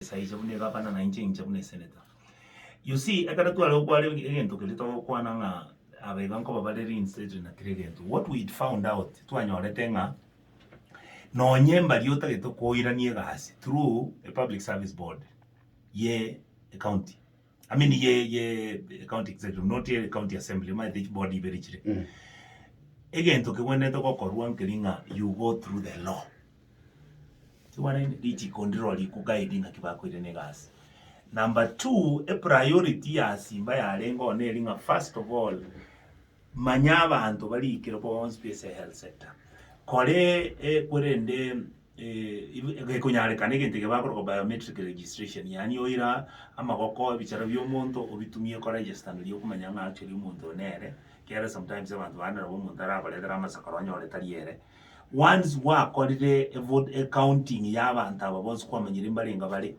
Esaa inche buna egavana na inche inche buna esenator. You see ekero tware gokwana egento keria togokwana ng'a aba iga nkoba bare reinstated na kera egento. What we found out twanyorete ng'a nonye mbari otagete koirania egasi through a public service board ye ecounty. I mean ye ye county executive not ye county assembly maete each board ibere chire Mm. egento kegwenerete gokorwa nkeri ng'a you go through the law tiwaraini richiko ndiro rikuguide ng'aki bakoirana egasi number two epriority ya simba yarenge one eri ng'a first of all Manya abanto bariikire bonsi be ase health sector kore korende gekonyarekana egento ekio bakoroka biometric registration yaani oira amagoko ebichara bia omonto obitumie ko register nari okomanya ng'a actually omonto oyo nere ekiagera sometimes abanto bande nabo omonto arabaretere amasakaro onyore tari ere. Once gwakorire evote ecounting ya abanto aba bonsi kwamanyire mbarenge bare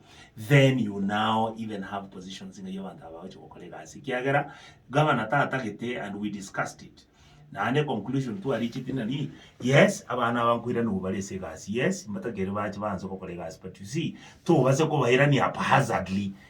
then you now even have positions ng'ai abanto aba bagochia gokora egasi ekiagera governor tatagete and we discussed it naende conclusion twaricheti nari yes abana aba nkoiranerwa bare ase egasi yes mbatakeri bache baanse gokora egasi but you see tobase kobairania haphazardly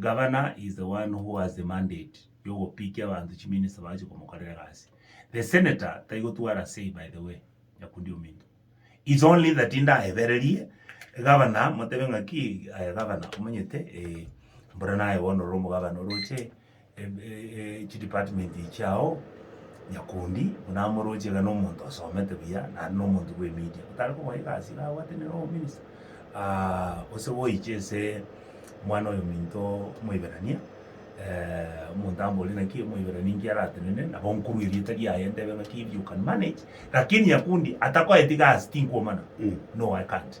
Governor is the one who has the mandate yogopikia abanto chiminista bache komokorera egasi. The senator taigotwara say by the way, nyakundi ominto. It's only that ndaebererie governor motebe ng'aki aye governor omonyete ee mbora naye bono ore omogabana oroche chidepartment chiao nyakundi buna amoroche iga na omonto osomete buya naende na omonto bwe media otare komoa egasi iga abwate nere obominisa gose goiche ase omwana oyo ominto omoiberania omonto amborie naki omoiberania inki aratenene nabo nkorwa erieta riaye ntebe ng'aki you can manage lakini nyakundi atakoeti gasi tinkwomana no i can't.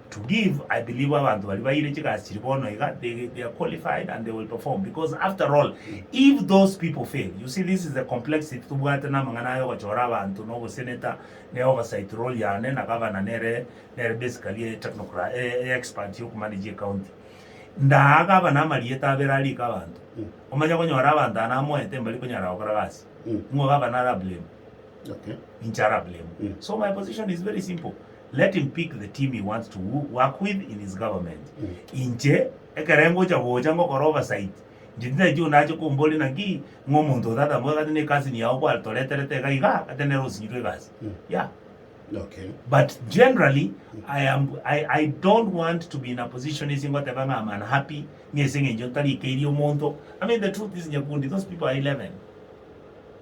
To give I believe abanto baria baire chigasi chiria bono iga they they are qualified and they will perform because after all if those people fail you see this is the complexity tobwate namang'ana aya ogochora abanto na obosenator ne oversight role yane na governor nere nere basically e technocra e e expert yoku manage ecounty ndaa governor amarieta abere arike abanto omanye konyora abanto aya namoete mbari konyara gokora gasi ng'o governor ara blame Okay. inche ara blame so my position is very simple let him pick the team he wants to work with in his government. Inche ekero ngocha gocha ngokora oversight, inche titaichi onde ache komboria naki ng'a omonto oyo tata ngoyo gati ne cousin yao gwatoreterete iga iga gati nere osinyirwe egasi. Yeah. Okay. But generally, I am I, I don't want to be in a position ase ngoteba ng'a I'm unhappy ng'a ase eng'encho ntarikeirie omonto. I mean the truth is Nyakundi, those people are 11.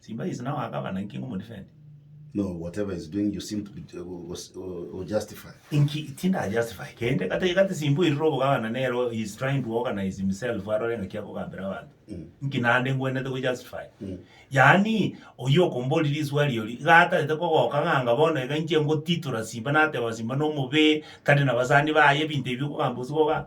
Simba is now a governor inki ngomodefend? No, whatever he's doing you seem to be ju- go- go- go- go justify. Inki tinda justify kende kata igate simba irire obogavana nero he is trying to organize himself arore ng'aki akogambera abanto Mm. inki nande ngwenerete go justify Mm. yaani oyio okombori riswari ori iga atarete kogoka ng'anga bono iga inche ngotitora simba nateba simba nomobe tari nabasani baye ebinto ebi okogamba osigoka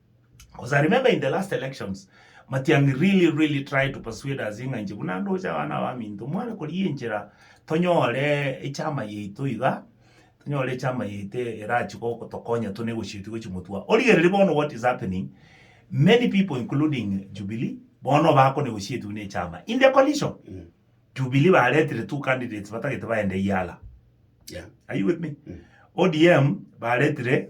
Cause I remember in the last elections, Matiang'i really really tried to persuade us ng'a inche buna ndoche abana abaminto more korigia enchera tonyore echama yaito iga, tonyore echama yaito erachi gotokonya tuna egochia gochia gotwa. Origereri bono what is happening, many people including Jubilee, bono bakona egochia gochia buna echama. In the coalition, Jubilee baretire two candidates batagete baende Yala. Yeah. Are you with me? ODM baretire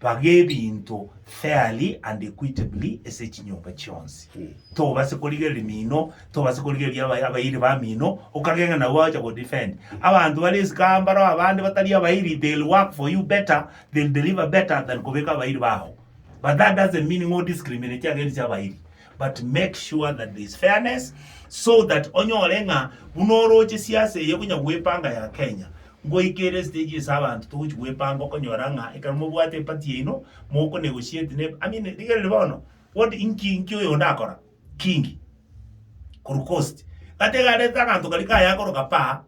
Baga ebinto fairly and equitably ase chinyomba chionsi. Tobase korigereria mino, tobase korigereria aba- abairi bamino, okagega nabo bagocha go defend. Abanto bare isiko aa mbaro abande batari abairi, they'll work for you better, they'll deliver better than kobeka abairi bago. But that doesn't mean ng'o discriminate against abairi. But make sure that there is fairness so that onyore ng'a buna oroche siasa eye konya gwepanga ya Kenya ngoika ere stage ase abanto togochi gwepanga okonyora ng'a ekero mobwate eparty yaino moko negotiate ne I mean rigereri bono what inki inki oyo onde akora Kingi korwa coast gatiga arete aganto karia kayakoroka pa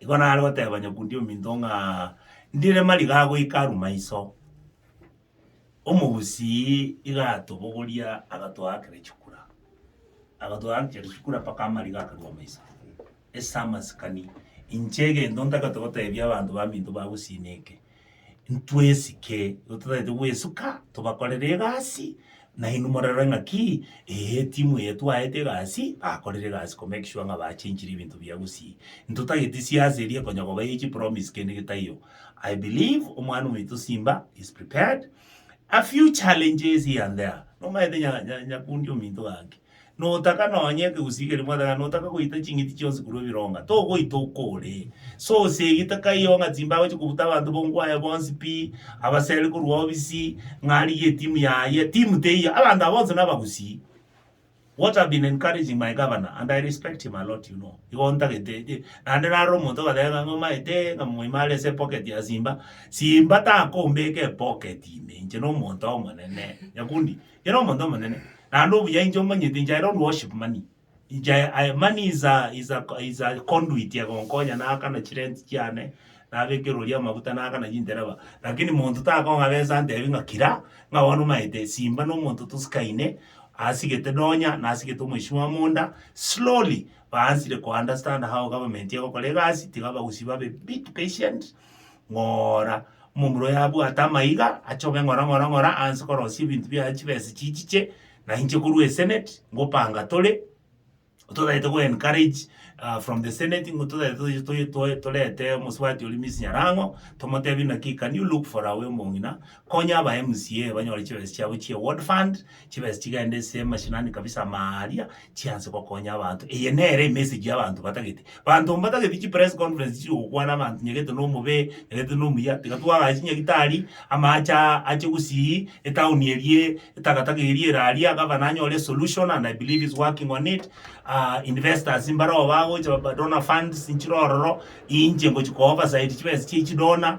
Igo nare goteba nyakundi ominto ng'a ndire mariga goika aruma iso. Omogusii iga atobogoria agatoakera chikura, agatoakera chikura mpaka amariga akaruoma iso. Ase amasikani, inche egento ntagete gotebia abanto baminto ba Gusii neke. ntwesike, igo totaete gwesuka tobakorere egasi, na inwe morore ng'aki ee etimu eye twaete egasi, bakorire egasi ko make sure ng'a bachenchire ebinto bia gusii. Ntotageti siasa eria konya kobaia chipromise kende gete taiyo. I believe omwana omoito Simba is prepared, a few challenges here and there, nomanyete nya- nya- nyakundi ominto gaki, Notaka nonye ekegusii-geria mwatagana, notaka goita ching'iti chionsi korwa ebironga, togoita okore. Sosia egita kaiyo ng'a Simba agochia kobuta abanto bongo aye bonsi pi, abaseri korwa obisi, ng'a arigie etimu yaye. Timu teiyo, abanto aba bonsi nabagusii. What I've been encouraging my governor, and I respect him a lot you know, igo ntagete je, naende naro omonto ogateba ng'a ng'omaete ng'a moime are ase epocket ya Simba, Simba takombeka epocket ime, inche nomonto omonene. Nyakundi. Kera omonto omonene, naende obuya inche omonyete, inche aye owrship money, inche aye aye money is a is a is a conduit egonkonya naakana chirent chiane, nabekera oria amafuta naakana chindereba, rakini monto takong'a besa antebi ng'a kira, ng'a bono omanyete simba na omonto tosikaine, asigete donya, nasigete omosio bwa monda, slowly baansire ko understand how government egokora egasi, tiga abagusi babe bit patient. ng'ora, momura oyo abwate amaiga, achoge ng'ora ng'ora ng'ora anse korosia ebinto biaye chibesa echi chiche, na inche korwa esenate, ngopanga tore, totagete go encourage from the senate ng'o totagete toiche toi toi torete omosubati oria Miss Nyarang'o, tomotebie naki can you look for our omong'ina, konya aba mca banyore chibesa chiabo chia ward fund. chibesa chigende nse y'amashinani kabisa amaa aria, chianse gokonya abanto. Eye nere emessage y'abanto batagete. Banto mbatageti chipress conference chire gokwana abanto onye gete na omobee, onye gete na omuya, tiga twagacha chinyagitari, amache aa ache gusii, etown erie, etakataka eria ere aria, gavana anyore esolution and I believe he's working on it, investors mbareo bagocha ba donor funds nchire ororo, inche ngochia ko oversight chibesa chia echidonor,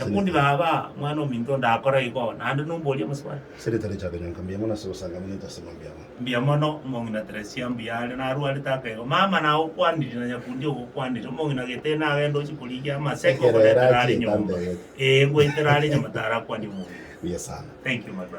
Ekundi baba, Omwana ominto onde akora igo, naende nomboria omosubati. Seretari chaka nyonka mbuya mono ase obosanga buna intase buna mbuya mono. Mbuya mono, omong'ina Teresia mbuya are narwarete aka igo. Mama nagokwanirie na nyakundi ogokwanirie. Omong'ina Gete nagende oche korigia amaseke Ekero ere ogoretera are achie nyomba. etambegete. Ee, ngoetera are nyomba tarakwanie omong'ina. Mbuya sana. Thank you my brother.